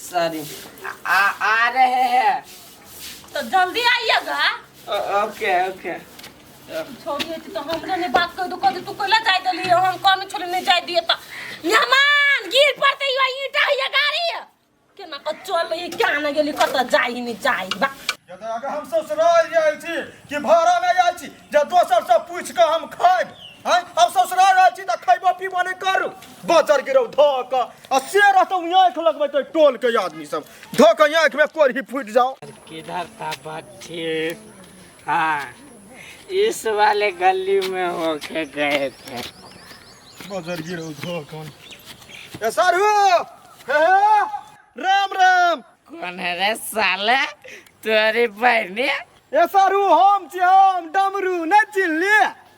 सारी आ आ रहे हैं तो जल्दी आइएगा ओके ओके छोड़िए तो हमरे ने बात कर दो कभी तू कोला जाए दली हम कौन छोड़ नहीं जाए दिए तो यमान गिर पड़ते ही वही ईटा या गाड़ी है के ना कचोल ये क्या ना गेली कत जाए ही नहीं जाए बा यदि अगर हम ससुराल जाइ छी कि भाड़ा में जाइ छी जे दोसर से पूछ के हम खाएब हैं हम ससुराल जाइ छी तऽ खैबो पीबो नहि करू बजर गिरौ धऽ कऽ आ से रहतौ आँखि लगबैत ओहि टोलके आदमी सब धऽ कऽ आँखिमे कोरही फूटि जाओ किधर था बच्चे हाँ इस वाले गली में होके गए थे बजर गिरो धो कौन ए सर हो हे हे, राम राम कौन है रे साले तोरी बहनी ए सर हो हम छी हम डमरू नहि चिल्ली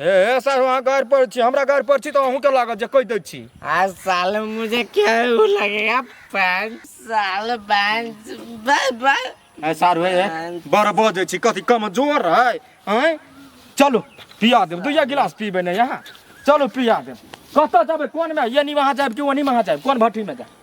हे हे सर अहाँ गाड़ि पर छी हमरा गाड़ि पर छी तऽ अहूँके लागत जे कहि दै छी आज साले मुझे क्या वो लगेगा पाँच साल पाँच बाय बाय ए सार हे हे बड़ बजै छी कथी कमजोर है हैं चलू पिया देब दुइया गिलास पीबै ने यहाँ चलू पिया देब कतऽ जेबै कोनमे यानी वहाँ जाएब कि ओनी वहाँ जाएब कोन भट्टीमे जाएब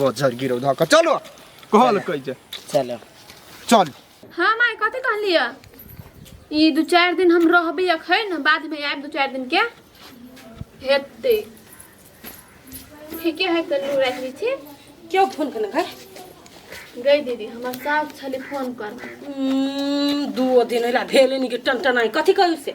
बजर गिरो धक चलो कहल कह जे चलो चल हाँ माय कथी कहलिए ई दू चारि दिन हम रहबै अखन बादमे आएब दू चारि दिनके हेतै ठीके है तऽ लू राखि लै छी क्यों फोन करना घर गई दीदी हमर सास छलै फोन करने हम्म, दू दिन होला भेले नहीं के टन टन आई कथी कहू से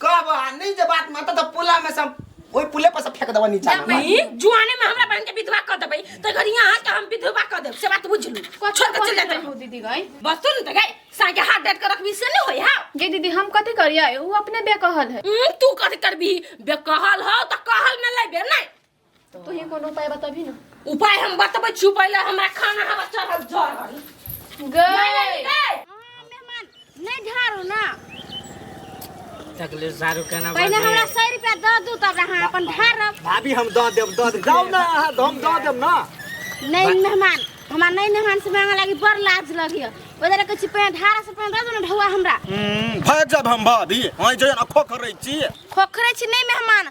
कब आ नहीं जे बात माता तो पुला में सब ओई पुले पर से फेंक देबो नीचा में। नहीं जुआने में हमरा बहन के विधवा कर देबै तो घर यहाँ के हम विधवा कर देब से बात बुझ लू छोड़ के चल जाते हो दीदी गई बस सुन त गए साके हाथ डाट के रखबी से नहीं होय हा ये दीदी हम कथी करिए वो अपने बेकहल है हम्म, तू कथी करबी बेकहल हो त कहल में लेबे नहीं तू ही कोनो उपाय बताबी ना उपाय हम बतबै छी पहिले हमरा खाना हवा चढ़ल जरल गए मेहमान नहीं झाड़ू ना तकले सारू केना पहले हमरा बाजी सौ रुपया दऽ दू तब अहाँ अपन झाड़ब भाभी हम दऽ देब दऽ देब जाउ ने अहाँ तऽ हम दऽ देब ने नहीं मेहमान हमरा नहीं मेहमान से मांगे लागी बड़ लाज लगी ओदरे के छी पहले झाड़ा से पहले दऽ दू ना ढौआ हमरा हम्म, भाग जाब हम भाभी अहाँ जे अखो करै छी खोखरे छी नहीं मेहमान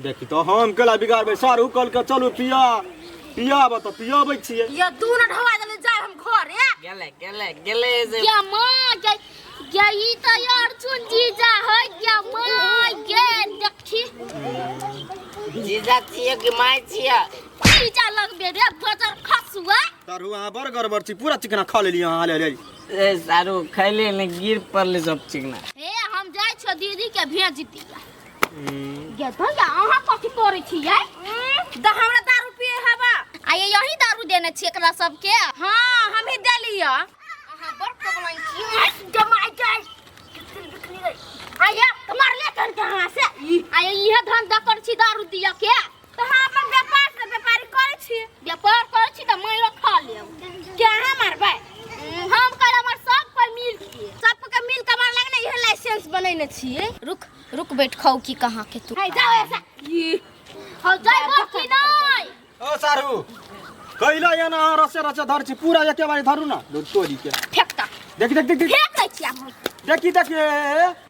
देखी तो हम केला बिगाड़बै सारू कहलकै चलू पिया पियाब तऽ पियाबै छियै ये तू ना ढवा देले जाय हम घरे गेले गेले गेले जे क्या माँ क्या क्या ई तो यार चुन जीजा है क्या माँ ये देखी जीजा छिए कि माय छिए जीजा लगबे रे बजर खसुआ सारू अहाँ बड़ गड़बड़ छी पूरा चिकना खा लेली अहाँ ले ले ए सारू खैले ने गिर पड़ले सब चिकना ए हम जाय छो दीदी के भेज दिया ये भैया अहाँ कथी करै छियै द हमरा दारू पिए हवा आ ये यही दारू देने छी एकरा सबके हाँ हम ही देलिए अहाँ बड़ कबलाइन छी जमाई जाय आया मार ले कर कहाँ से आया यह धंधा कर छी दारू दिया के तो हम अपन व्यापार से व्यापारी करे छी व्यापार करे छी त मैं लोग खा ले क्या हम मारबे हम कर हमर सब पर मिल के सब के मिल के मार लगने इहे लाइसेंस बनैने छी रुक रुक बैठ खाऊ की कहां के तू है जाओ ऐसा ये हो जाय बो की नहीं ओ सारू कैला या ना रसे रसे धर छी पूरा एके बारी धरू ना दो तोरी के फेंक तक देख देख देख देख फेंक दै छी हम देखी देखी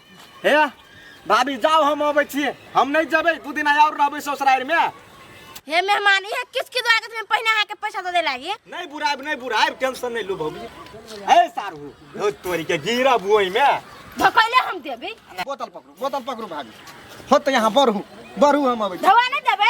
हे भाभी जाओ हम अबै छी हम नहीं जबै दू दिन और रहबै ससुराल में हे मेहमान ये किस की लागत में पहिने आके पैसा दे लागी नहीं बुराब नहीं बुराब टेंशन नहीं लो भौजी हे सारू हो तोरी के गिरा बुई में धकैले हम देबे बोतल पकड़ू बोतल पकड़ू भाभी हो तो यहाँ बढ़ू बढ़ू हम अबै छी। धवा नहीं देबे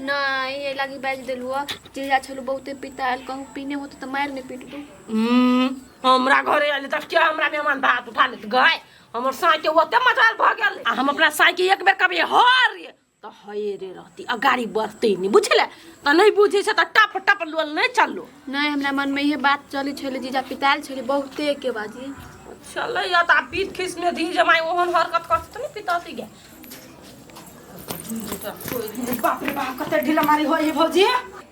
नहि एहि लागी बाजि देलहुँ हँ जहिया छलहुँ बहुते पितायल कहूँ पीने होतौ तऽ मारि नहि पीटबू हम्म, हमरा घरे आयल तऽ क्या हमरा मेहमान पर हाथ उठा लेत गए हमर साँइ के ओते मजाल भऽ गेल आ हम अपना साँइ के एक बेर कभी हर रे तऽ हये रे रहती आ गाड़ी बढ़ते नहि बुझले तऽ नहि बुझे छै तऽ टप टप लोल नहि चललो नहि हमरा मनमे इहे बात चलै छलै जीजा पितायल छलै बहुते के बाजी चले या तऽ आब पीत खिस में धी जमाई ओहन हरकत करते तऽ नहि पितासी गए बाप रे बाप कते ढीला मारी हो ये भौजी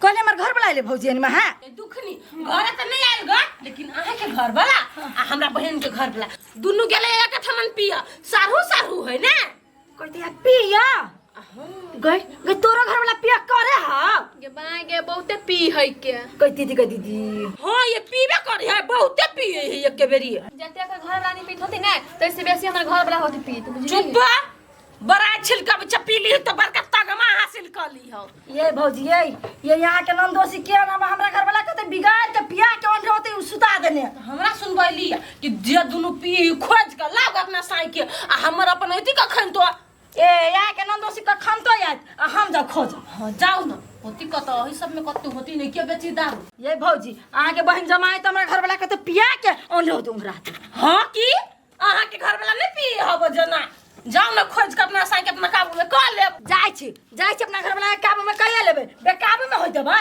कल हमर घर वाला ले भौजी अनिमा है दुखनी घर त नहीं आयल ग लेकिन अहाँ के घर वाला आ हमरा बहन के घर वाला दुनु गेले एक थमन पिया सारू सारू है ना कहते यार पिया गई गई तोरा घर वाला पिया करे हा गे बाय गे बहुते पी है के कह दीदी कह दीदी हां ये पीबे करे है बहुते पिए है एक बेरी जते के घर रानी पीत होती ना तैसे बेसी हमर घर वाला होती पी तू बुझली चुप बड़ा छिलका बच्चा पी ली तो बड़का तगमा हासिल कर ली हो ये भौजी ये ये यहाँ के नंदोसी के नाम हमरा घर वाला कहते बिगाड़ के पिया के ओन रहते उ सुता देने तो हमरा सुनबैली कि जे दुनु पी खोज के लाग अपना साई के आ हमर अपन अथी कखन तो ए या के नंदोसी के खमतो यात आ हम जा खोज हाँ जाओ ना होती कत अही सब में कत्तू होती नहीं के बेची दारू ये भौजी अहाँ के बहन जमाए तो हमरा घर वाला के तो पिया के ओंडो दूं रात हाँ की अहाँ के घर वाला नहीं पिए हब जना जाओ ना खोज के अपना साई के अपना काबू में कर ले जाय छी जाय छी अपना घर वाला के काबू में कहिए लेबे बेकाबू में हो देबै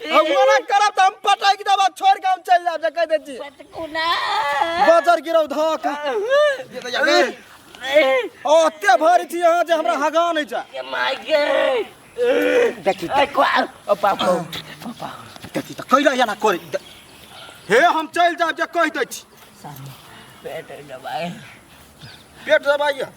हम मना करब त हम पटक देब आ छोड़ के हम चल जाब जे कह दे छी पटकुना बजर गिरौ धक ओते भर छी अहाँ जे हमरा हगा नै जा के माय गॉड देखी आई क्वाल ओ बाप रे देखी त कैला एना करे दे- हे हम चल जाब जे कह दे छी पेट दबाए पेट दबाइए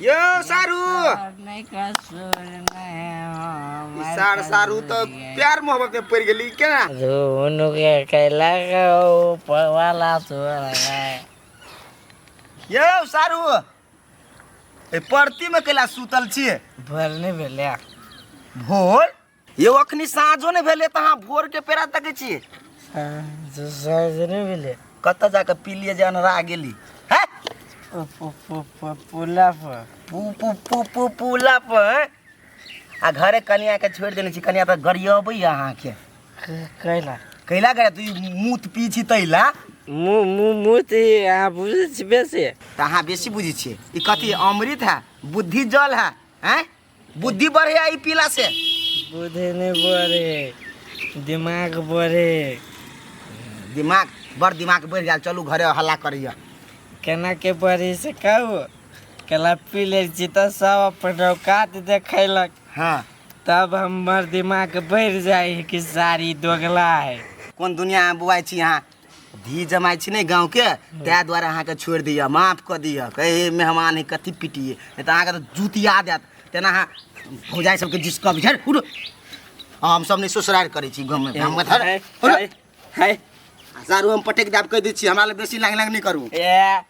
यो सारू सार सारू त प्यार मोहब्बत में पड़ गेली केना दोनों के कैला का ऊपर वाला तोरा यो सारू ए परती में कैला सुतल छिए भर नहीं भेले भोर यौ अखनी साँझो नहि भेलै तऽ अहाँ भोरके पेरा तकै छियै साँझ नहि भेलै कतऽ जाके पी लिए जे अनरा गेली है पुला पर पू पू पू पू पुला पर हैं? आ घरे कनिया के छोड़ि देने छी कनिया तऽ गरियबै अहाँके कैला कैला करे तू ई मूत पी छी तैला मुँह मुँह मुँह तऽ अहाँ बुझै छी बेसी तऽ अहाँ बेसी बुझै छियै ई कथी अमृत है बुद्धि जल है हैं बुद्धि बढ़े आई पीला से बुद्धि नहीं बढ़े दिमाग बढ़े दिमाग बड़ दिमाग बढ़ गया चलू घरे हल्ला करिए केना के बढ़े से कहू केला पी ले छी तऽ सब अपन औकात देखैलक हाँ तब हमर दिमाग बढ़ जाए है कि सारी दोगला है कोन दुनिया में बुआई छी यहाँ धी जमाइ छी ने गाँव के ताहि दुआरे अहाँके छोड़ि दिअ माफ कऽ दिअ कहे मेहमान है कथी पिटिए नहि तऽ अहाँके तऽ जुतिया देत तेना अहाँ भौजाइ सबके जिसकब झर उड़ हमसब नहि ससुरार करै छी गाँवमे गाँवमे धर है, है, है। सारू हम पटक देब कहि दै छी हमरा लग बेसी लांग लांग नहि करू ए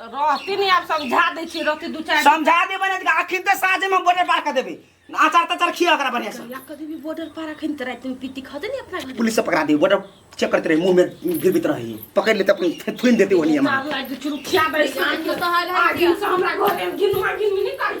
तऽ रहती नहीं आब समझा दै छी रहती दू चारि समझा देबै ने तऽ अखन तऽ साँझेमे बॉर्डर पार कऽ देबै अचार तचार खिया ओकरा बढ़िया से लक्का देवी बॉर्डर पार अखन तऽ रातिमे पीती खा देनी अपना घर पुलिस से पकड़ा दी बॉर्डर चेक करते रहे मुंह में गिरबित रही पकड़ लेते अपन थे- थुनि देते ओहनी हमरा आग लागि चुरुखिया बैस आगे से हमरा घर में गिनवा गिनवी नहीं करी